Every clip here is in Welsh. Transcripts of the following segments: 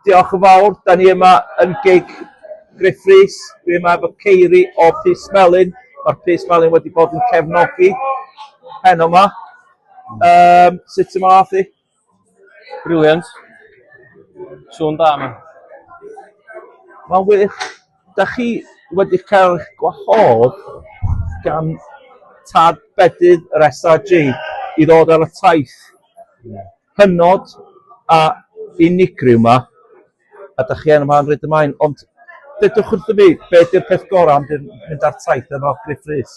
Diolch yn fawr, dan ni yma yn gig Gruff Rhys, dwi yma efo Ceiri o Pys Melin, mae'r Pys Melin wedi bod yn cefnogi heno yma. Um, sut ti'n math i? Briliant. Sŵn da yma. Mae'n wych. Dach chi wedi cael eich gwahodd gan tad bedydd yr SAJ i ddod ar y taith hynod a unigryw 'ma, a dach chi yma yn Rhydymain, ond dedwch wrtho fi, be' 'di'r peth gorau am fynd ar taith efo Gruff Rhys?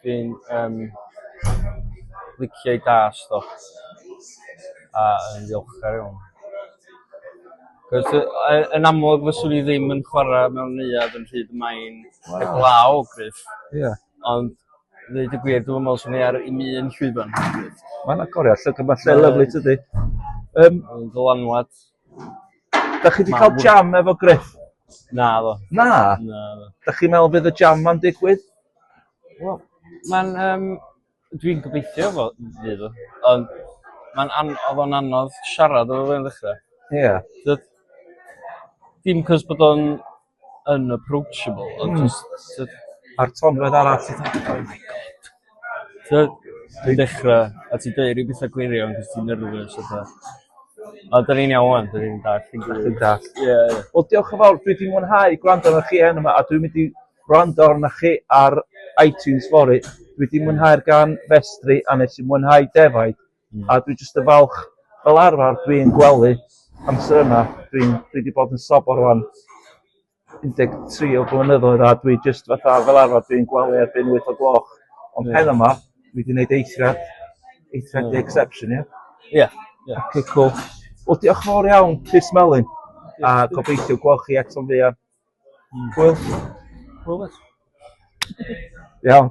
Dwi'n yym licia'i dasg o a yn ddiolchgar iawn. Cos yy yy yn amlwg fyswn i ddim yn chwara mewn neuadd yn rhydd y mae'n heblaw o gryf. Ie. Ond ddeud y gwir dwi'm yn me'wl swn i ar 'im un llwyfan. Mae'n agoriad llygad ma'n lle lyfli tydi? Yym. Ma'n ddylanwad. Da chi 'di cael jam efo Griff? Na ddo. Na? Na. Da chi'n meddwl bydd y jam ma'n digwydd? Wel, mae'n um, dwi'n gobeithio fo fydd o. Ond mae'n an oedd o'n anodd siarad efo fe'n ddechrau. Ie. Yeah. Dim cos bod o'n unapproachable ond jyst sy... A'r tonfedd arall ti fatha oh my God. T'od? Ti'n dechra a ti'n deud ryw betha gwirion 'c'os ti'n nervous a petha. Ond 'dan ni'n iawn ŵan 'dan ni'n dallt dim byd. Dwi'n dallt. Ie ie. Wel diolch yn fawr dwi 'di mwynhau gwrando arnoch chi enw 'ma a dwi'n mynd i wrando arnoch chi ar Itunes fory. Dwi 'di mwynhau'r gan Festri a nes i mwynhau defaid. A dwi jyst yn falch fel arfer dwi'n gwely amser yma dwi'n dwi 'di bod yn sobor rŵan un deg tri o blynyddoedd a dwi jyst fatha fel arfer dwi'n gwely erbyn wyth o gloch ond heno 'ma dwi 'di neud eithriad eithriad 'di exception ia? Ia ia. Oce cŵl. Wel diolch yn fowr iawn Rhys Melin a gobeithio gwel' chi eto'n fuan. Hmm. Hwyl. Hwyl bois. Iawn.